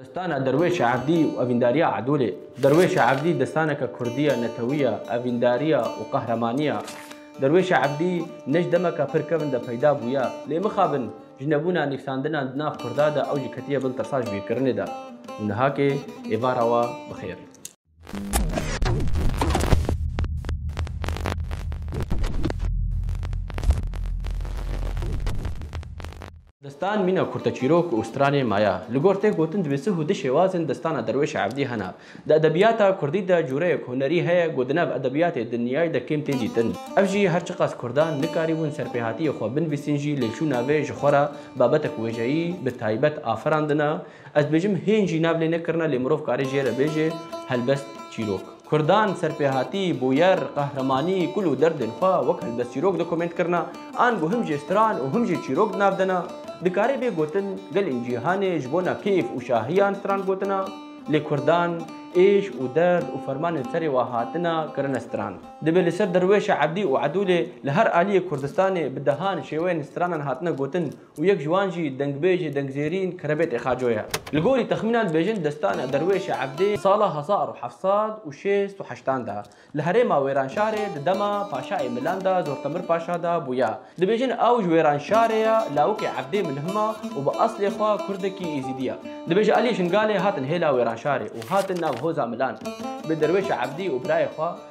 Destana Derwêşa Evdî û Evîndariya Edolê Derwêşa Evdî destaneke kurdî ye, netewî ye, evîndarî ye û qehremanî ye. Derwêşa Evdî ne ji demeke pir kevn de peyda bûye. Lê mixabin ji nebûna nivîsandinan di nav kurda de ew jî ketiye bin tasajbîrkirinê de û nihakê êvara we bi xêr. Destan mîna kurteçîrok û stranê ma ya. Li gor tê gotin divê sih û di şêwazên destana Derwêşa Evdî hene. Di edebiyata kurdî de cureyek hunerî heye ku di nav edebiyatê dinyayî de kêm tê dîtin. Ev jî her çiqas kurdan nikarîbûn serpêhatiyê xwe binvîsin jî lê çûna vê ji xwe re babetek wêjeyî bi taybet afirandina, Ez dibêjim hên jî nav lê nekirine lê mirov kare jê re bêje helbest çîrok. Kurdan serpêhatî, bûyer, qehremanî, kul û derdên xwe wek helbest çîrok di komênt kirina, ango him jê stran û him jê çîrok di nav dena. Dikare bê gotin gelên cîhanê ji bona kêf û şahiyan stran gotina, lê kurdan êş û derd û fermanên serê wan hatina kirine stran. Dibe li ser derwêşa ebdî û edûlê li her aliyê Kurdistanê bi dehan şêweyên stranan hatine gotin û yek ji wan jî dengbêjê dengzêrîn Kerebêtê Xaco ye. Li gorî texmînan dibêjin destana Derwêşê Ebdê sala hezar û heft sed û şêst û heştan de li herêma Wêranşarê di dema paşayê Milan de Zortemir Paşa de bûye. Dibêjin ew ji Wêranşarê ye, lawikê Ebdê Milhima û bi eslê xwe Kurdekî Êzîdî ye. Dibêje aliyê Şingalê hatin hêla Wêranşarê û hatin nav hoza Milan bi Derwêşê Ebdî û birayê xwe,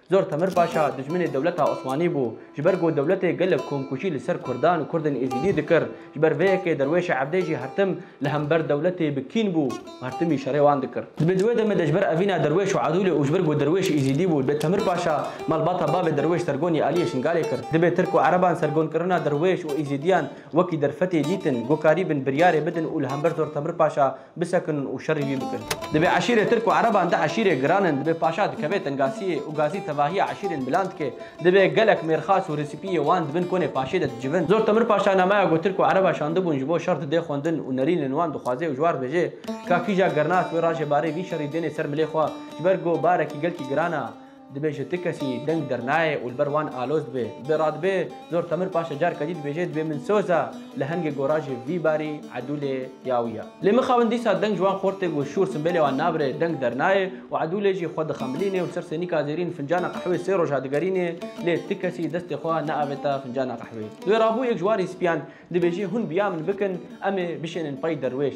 Zor Temir Paşa dijminê dewleta Osmanî bû. Ji ber ku dewletê gelek komkûjî li ser Kurdan û Kurdên Êzîdî dikir, ji ber vê yekê derwêşa Ebdê jî her tim li hember dewletê bi kîn bû û her timî şerê wan dikir. Dibê di wê demê de ji ber evîna derwêş û Edûlê û ji ber ku derwêş Êzîdî bû, dibê Temir Paşa malbata bavê derwêş Sergonî Aliyê Şingalê kir. Dibê Tirk û Ereban sergonkirina derwêş û Êzîdiyan wekî derfetê dîtin, gokarî bin, biryarê bidin û li hember Zor Temir Paşa Bisekin û şerî wî bikin. Divê eşîrê tirk û ereban di eşîrê giran in. Divê paşa dikeve tengasiyê û gazî tevahiya eşîrên milan dike. Divê gelek mêrxas û resîpiyê wan di bin konê paşê de dicivin. Zor Temir Paşa namaya ku tirk û ereba şandibûn ji bo şer dide xwendin û nerînên wan dixwaze û ji wan dibêje ka kîja gernak wê rajê barê vî şerî dênê ser milê xwe ji ber ku barekî gelkî giran a. Dibêje ti kesî deng dernayê û li ber wan aloz dibe. Bi radibê zor temir paşê careke dî dibêje dibê min soz a, li hengê gora jî vî barî Edûlê ya wî ya. Lê mixabin dîsa deng ji wan xort tê ku şûr simbêlê wan nabire, deng dernayê û Edûlê jî xwe dixemilîne û ser sênîka zêrîn fincana qehwê sê roja digerîne lê ti kesî destê xwe neavêta fincana qehwê. Di wê rabûyê yek ji wan rîspiyan dibêje hûn bi ya min bikin em ê bişênin pey derwêş.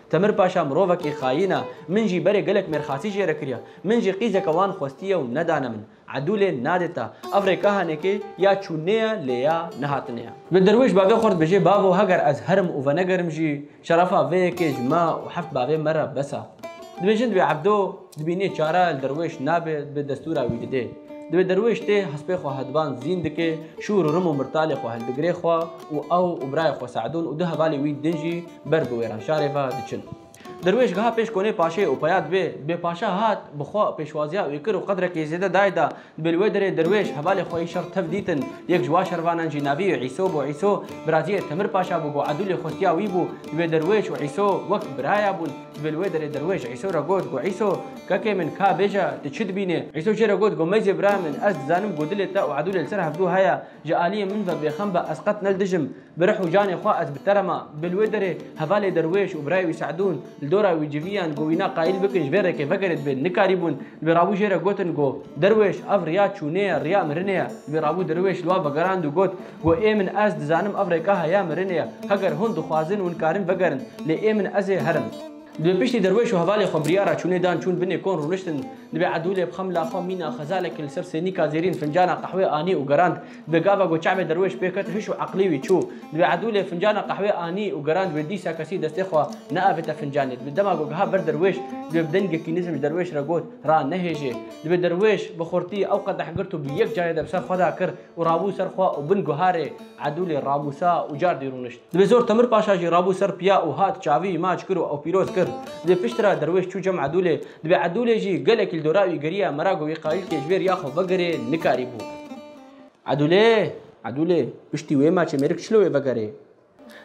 Temir Paşa mirovekê xayîn e. Min jî berê gelek mêrxasî jê re kiriya. Min jî qîzeke wan xwestiye û nedane min. Edûlê nadê te. Ev rê ka henekê ya çûnê ye lê ya nehatinê ye. Bi derwêş bavê xwe dibêje, Bavo heger ez herim û venegerim jî, şerefa vê yekê ji me û heft bavê me re bes e. Dibêjin divê Ebdo, Dibî nê çare li derwêş nabe, dibê destûra wî bidê. Dibê derwêş tê hespê xwe hedban zîn dike, şûr û rim û mirtalê xwe hildigire xwe û ew û birayê xwe Se'dûn û du hevalê wî din jî ber bi wêranşarê ve diçin. Derwêş geha pêş konê paşê û peya dibê, dibê paşa hat bi xwe pêşwaziya wî kir û qedrekê zêde dayê da Dibê li wê derê derwêş hevalê xwe yê şer tev dîtin. Yek ji wa şervanan jî navî yê Îso bû. Îso biraciyê Temir Paşa bû, bû Edûlê xotiya wî bû. Dibê derwêş û Îso wek biraya bûn. Dibê li wê derê derwêş Îso re got ku Îso, kekê min, ka bêje, tu çi dibînê? Îso jê re got ku Meyzê birayê min, ez dizanim ku dilê te û Edûlê li ser hevdû heye. Ji aliyê min ve bêxem be, ez qet ne li dijim. Bi rih û canê xwe ez bi te re ma. Bi li wê derê hevalê derwêş û birayê wî Se'dûn, li dora wî civiyan ku wîna qayîl bikin ji vê rêkê vegerê dibên, nikarîbûn. Li wê rabû jê re gotin ku, Derwêş, ev riya çûnê ye, riya mirinê ye. Li wê rabû derwêş li wan vegerand û got ku, Ê min, ez dizanim ev rêka heya mirinê ye. Heger hûn dixwazin hûn karin vegerin. Lê ê min ez ê herim. Li wê piştî derwêş û hevalê xwe biryara çûnê dan çûn binê kon rûniştin. Li wê Edûlê bi xemla xwe mîna xezalekê li ser sênîka zêrîn fincana qehwê anî û gerand. Di gava ku çavê derwêş pê ket hiş û eqlî wî çû. Divê edûlê fincana qehwê anî û gerand wê dîsa kesî destê xwe neavêta fincanê. Divê dema ku giha ber derwêş divê bi dengekî nizm ji derwêş re got, Ra nehêjê. Divê derwêş bi xurtî ew qedeh girt û bi yek carê de bi ser xwe de kir û rabû ser xwe û bin guharê edûlê ramûsa û cardî rûnişt. Divê zor Temir Paşa jî rabû ser piya û hat çavî maç kir û ew pîroz kir. Divê piştre derwêş çû cem edûlê Divê Edûlê jî gelekî li dora wî geriya mera ku wî qayîlkê ji wê riya xwe vegerê nikarîbû. Edûlê, Edûlê, piştî wê maçê mêrik çi li wê vegerê?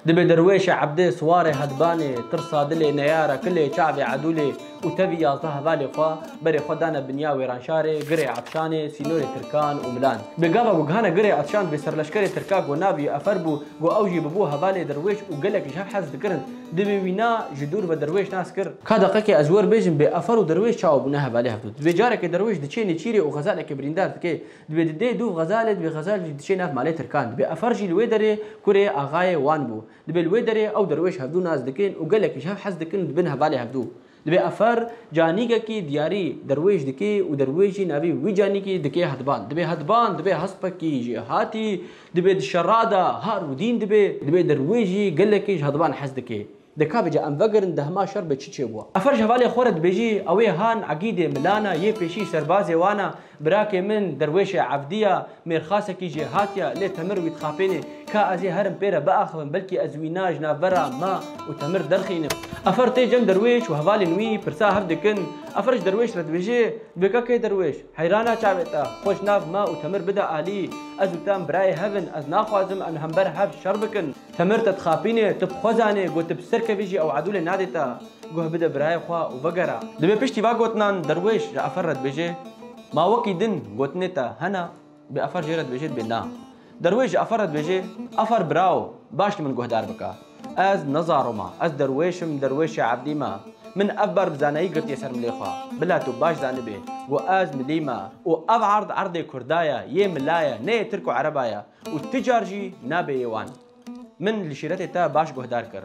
Divê derwêşê Ebdê siwarê hedbanê, tirsa dilê neyara kilê çavê Edûlê û tevî yazdeh hevalê xwe berê xwe dane binya wêranşarê girê Atşanê, sînorê Tirkan û Milan. Bi gava ku gihana girê Atşan divê serleşkerê Tirka ku navê wî Efer bû, ku ew jî bûbû hevalê derwêş û gelek ji hev hez dikirin, Divê wî na ji dûr ve derwêş nas kir. Ka deqekê ez wer bêjim bê afar û derwêş çawa bûne hevalê hev dû. Divê carekê derwêş diçê nêçîrê û xezalekê birîndar dike. Divê di dê dûv xezalê divê xezal jî diçê nav malê tirkan. Divê afar jî li wê derê kurê axayê wan bû. Divê li wê derê ew derwêş hev dû nas dikin û gelekî ji hev hez dikin û dibin hevalê hev dû. Di vê efer canîgekî diyarî derwêj dikê û derwêjî navî wî canîgî dikê hedban. Dibê hedban, dibê hespekî jî hatî, dibê di şera de har û dîn dibê, dibê derwêjî gelekî ji hedban hez dikê. Deka bi ca em vegirin di hema şer be çi çêbûa. Efer ji hevalê xwe re dibêjî ewê han egîdê milana yê pêşî serbazê wan a Birakê min derwêşê evdî ya, mêrxasekî jê hatiya, lê Temir wî dixapênê. Ka ez ê herim pê re biaxivim, belkî ez wî na ji navbera ma û Temir derxînim. Afer tê cem derwêş û hevalên wî pirsa hev dikin. Afer ji derwêş re dibêje, Vê ka kê derwêş? Heyrana çavê te, xwe ji nav ma û Temir bide alî. Ez û Tem birayê hev in, ez naxwazim em li hember hev şer bikin. Temir te dixapîne, tu bi xwe zanê ku tu bi ser kevî jî ew edûlê nadê te. Guh bide birayê xwe û vegere. Divê piştî va gotinan derwêş ji efer re dibêje, Ma wekî din gotinê te hene, bê efer jê re dibêje dibê na. Derwêş ji efer re dibêje, Efer birawo, baş li min guhdar bike. Ez ne zaro me, ez derwêş im, derwêşê ebdî me. Min ev ber bi zanayî girtiye ser milê xwe. Bila tu baş zanibê ku ez milî me û ev erd erdê kurda ye, yê mila ye, ne yê tirk û ereba ye. Û ti car jî nabêyê wan. Min li şîretê te baş guhdar kir.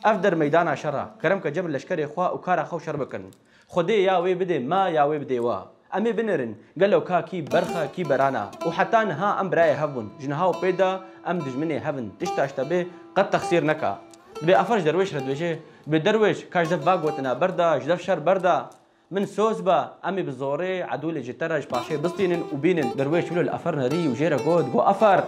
Ev der meydana şer e. Kerem ke cebir leşkerê xwe û kara xwe û şer bikin. Xwedê ya wê bidê me ya wê bidê we. Em ê binêrin gelo ka kî berx e kî beran e. Û heta niha em birayê hev bûn. Ji niha û pê de em dijminê hev in. Tişta ji te bê qet texsîr neke. Dibê afer ji derwêş re dibêje, Bêderwêş, ka ji dev va gotina berda, ji dev şer berda. Min soz be, em ê bi zorê Edûlê ji te re ji paşê bistînin û bînin. Derwêş wilo li Efer nerî û jê re got, Go Efer!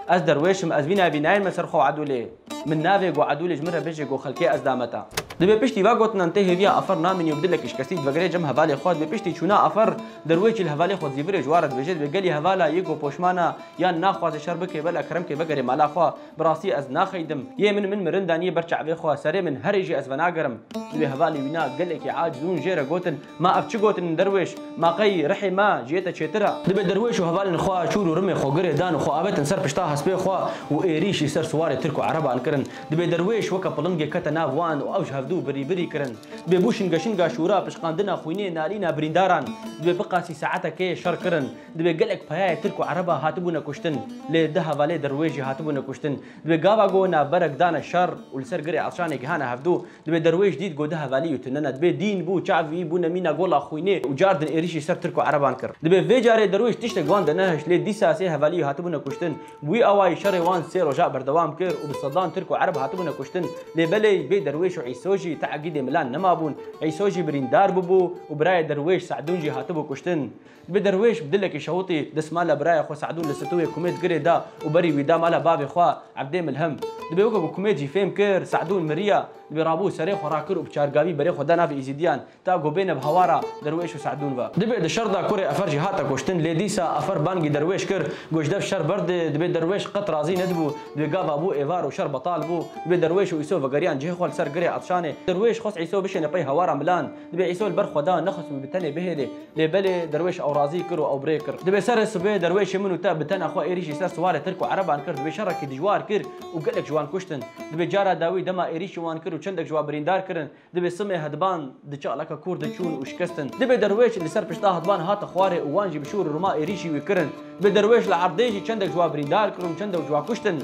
Ez derwêş im, ez vî navî nayên me ser xwe û Edûlê. Min navê Go Edûlê ji min re bijî, Go Xelkê ez dame te. Dibê piştî ve gotinan tê hêviya Efer namînî û bi dilekî şikestî divegire cem hevalê xwe. Dibê piştî çûna Efer, derwêş jî li hevalê xwe dizîvirê ji wan re dibêje, dibê gelî hevala yê Go poşman e, yan naxwaze şer bike, bela kerem ke vegerê mala xwe. Bi rastî ez naxeydim. Yê min min mirin danî ber çavê xwe. Serê min herê jî ez venagerim. Di vê hevalê wî na gelekî aciz hûn jê re gotin, Ma ev çi gotin in derwêş? Ma qey rihê me ji yê te çêtir e? Dibe derwêş û hevalên xwe çûr û rimê xwe girê dan û xwe avetin ser pişta hespê xwe û êrîş î ser siwarê tirk û ereban kirin. Dibe derwêş weke pilingê kete nav wan û ew ji hevdu birî birî kirin. Dibe bû şinge şinga şûra, pişqandina xwînê, nalîna birîndaran. Dibe biqasî saetekê şer kirin. Divê gelek payayê Tirk û Ereba hatibûne kuştin, lê di hevalê dir wê jî hatibûne kuştin. Divê gava go navberek dane şer û li ser girê elçanê gihane hevdu, divê derwêş dît go di hevalî û tune ne. Divê dîn bû, çavî, bûne mîna gola xwînê û car din êrîşî ser Tirk û Ereban kir. Divê vê carê derwêş tiştek wan denehişt, lê dîsa sê hevalî hatibûne kuştin. Bi wî awayî şerê wan sê roja berdewam kir û bi sedan Tirk û Ereb hatibûne kuştin. Lê belê vê derwêş û Îso jî te'gîdê milan nemabûn. Îso jî birîndar bûbû û birayê derwêş Se'dûn jî hatibû kuştin. Bi derwêş bi dilekî şewitî desmala biraya xwe Se'dûn li stûyê Kumêd girê da û berî wî da mala bavê xwe Ebdê Milhim. Dibê weke ku Kumêd jî fêm kir Se'dûn miriya, dibê rabû serê xwe rakir û bi çargavî berê xwe da navê Îzîdiyan ta ku bêne bi hawara derwêş û Se'dûn ve. Dibê di şer da kurê Efer jî hate kuştin lê dîsa Efer bangî derwêş kir got ji dev şer berdê, dibê derwêş qet razî nedibû, dibê gava bû êvar û şer betal bû. Dibê derwêş û Îso vegeriyan cihê xwe li ser girê Etşanê. Derwêş xwest Îso bişêne pey hawara milan. Dibê Îsa li ber xwe da nexist û bi tenê bihêlê. Lê belê derwêş ew razî kir û ew bi rê kir. Dibê serê sibê derwêşê min û te bi tena xwe êrîş jî ser siwarê Tirk û Ereban kir. Dibê şerekî dijwar kir û gelek ji wan kuştin. Dibê cara dawî dema êrîş ji wan kir û çendek ji wan birîndar kirin. Dibê simê hediban di çalaka kûr de çûn û şikestin. Dibê derwêş li ser pişta hediban hate xwarê û wan jî bi şûr û rûma êrîşî wî kirin. Dibê derwêş li erdê jî çendek ji wan birîndar kirin û çendek ji wan kuştin.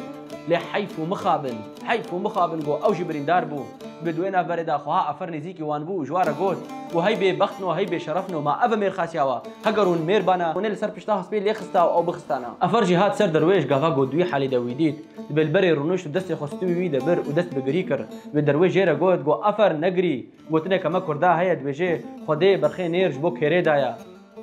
Lê heyf û mixabin. Heyf ku mixabin got ew jî birîndar bû. Bi duwê navberê de xweha Efer nêzîkî wan bû û ji wan re got, Û hey bêbextin û hey bêşerefin û ma ev e mêrxasiya we. Heger hûn mêr bane, hûn ê li ser pişta hespê lê xista û ew bixistane. Efer jî hat ser derwêş gava got di wî halê de wî dît. Dibê li berê rûnişt û destê xwe stûyê wî de bir û dest bi girî kir. Dibê derwêş jê re got, Got Efer, negirî! Gotineke me kurda heye dibêje, Xwedê berxê nêr ji bo kêrê daye.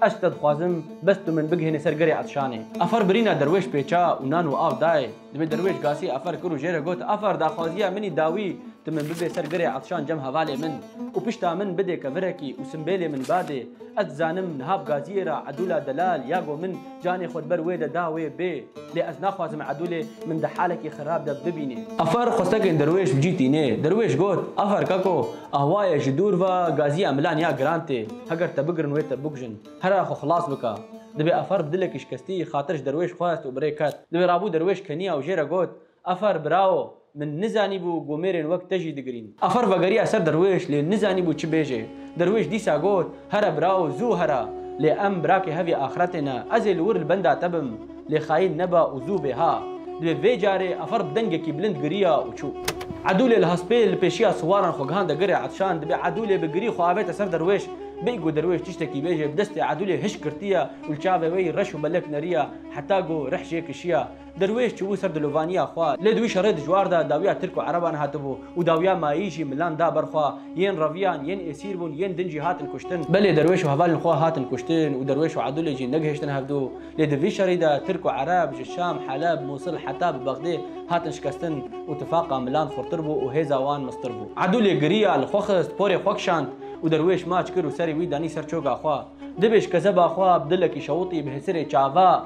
Ez te dixwazim bes tu min bigihînî ser gerê Etşanê. Afer birîna derwêş pêça û nan û av dayê. Divê derwêş gasî afer kir û jê re got, Afer, daxwaziya min î dawî tu min bibê ser gerê Etşan cem hevalê min û pişta min bidê kevirekî û simbêlê min badê. Ez dizanim niha bi gaziyê re Edûla Delal ya go min Canê xwe di ber wê de da wê bê. Lê ez naxwazim Edûlê min di halekî xirab de bibînê. Afer xwestekên Derwêş bi cî tînê. Derwêş got, Afer kako, ahwaye ji dûr ve gaziya milan ya giran tê. Heger te bigirin wê te bikujin. Herra xwe xilas bike. Divê Afer bi dilekî şikestî xatir ji Derwêş xwest û bi rê ket. Divê rabû Derwêş keniya û jê re got, Afar bravo, min nizanîbû ku mêrên wek te jî digirîn. Afar vegerî eser derwêş lê nizanîbû çi bêjê. Derwêş dîsa got, Here bravo, zû here. Lê em birakê hevî axretê ne. Ez ê li wir li benda te bim. Lê xayîn nebe û zû bê ha. Divê vê carê Afar bi dengekî bilind giriya û çû. Edûlê li hespê li pêşiya siwaran xwe gihand girê Etşan. Dibê Edûlê bi girî xwe avête ser derwêş. Bê ku derwêş tiştekî bêjê bi destê Edûlê hişk girtiye û li çavê wê yî reş û belek neriye heta ku rih jê kişiye. Derwêş çûbû ser dilovaniya xwe, lê di wî şerê dijwar de dawiya Tirk û Ereban hatibû û dawiya mayî jî milan da ber xwe, yên reviyan, yên êsîr bûn, yên din jî hatin kuştin. Belê derwêş û hevalên xwe hatin kuştin û derwêş û Edûlê jî negihiştin hevdu, lê di vî şerî de Tirk û Ereb ji Şam, Heleb, Mûsil heta bi Bexdê hatin şikestin û tifaqa milan xurtir bû û hêza wan mistir bû. Edûlê giriya, li xwe xist, porê xwe kişand û derwêş maç kir û serê wî danî ser çoga xwe. Dibêj kezeba xwe bi dilekî şewitî bi hêsirê çava.